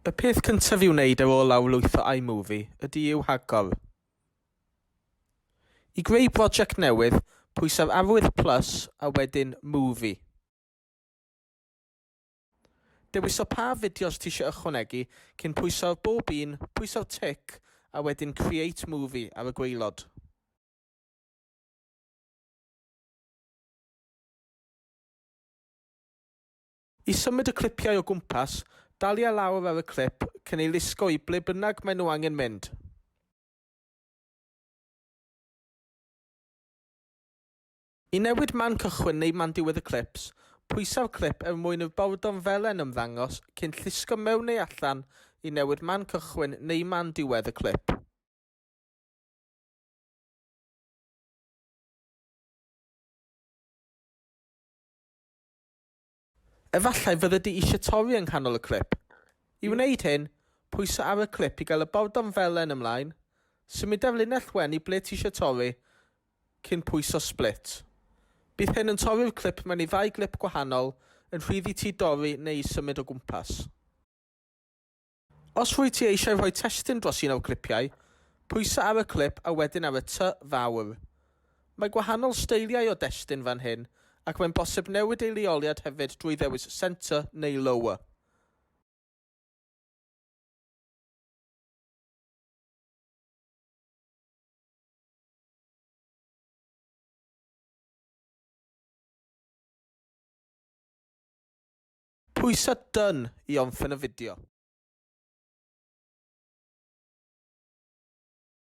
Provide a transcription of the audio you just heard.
Y peth cyntaf i'w wneud ar ôl lawrlwytho iMovie ydy i'w hagor. I greu brosiect newydd, pwysau'r arwydd plus a wedyn Movie. Dewis o pa fideos ti eisiau ychwanegu cyn pwyso ar bob un, pwyso'r tic a wedyn Create Movie ar y gwaelod. I symud y clipiau o gwmpas, dalia lawr ar y clip cyn ei lusgo i ble bynnag maen nhw angen mynd. I newid man cychwyn neu man diwedd y clips, pwysau'r clip er mwyn i'r bordor felen ymddangos cyn llusgo mewn neu allan i newid man cychwyn neu man diwedd y clip. Efallai fyddi di eisiau torri yng nghanol y clip. I wneud hyn, pwysa ar y clip i gael y bordom felen ymlaen, symuda'r linell wen i ble ti eisiau torri, cyn pwyso Split. Bydd hyn yn torri'r clip mewn i ddau glip gwahanol, yn rhydd i ti dorri neu symud o gwmpas. Os wyt ti eisiau rhoi testun dros un o'r clipiau, pwysa ar y clip a wedyn ar y tŷ fawr. Mae gwahanol steiliau o destun fan hyn ac mae'n bosib newid ei leoliad hefyd drwy ddewis Centre neu Lower. Pwysa Done i omffen y fideo.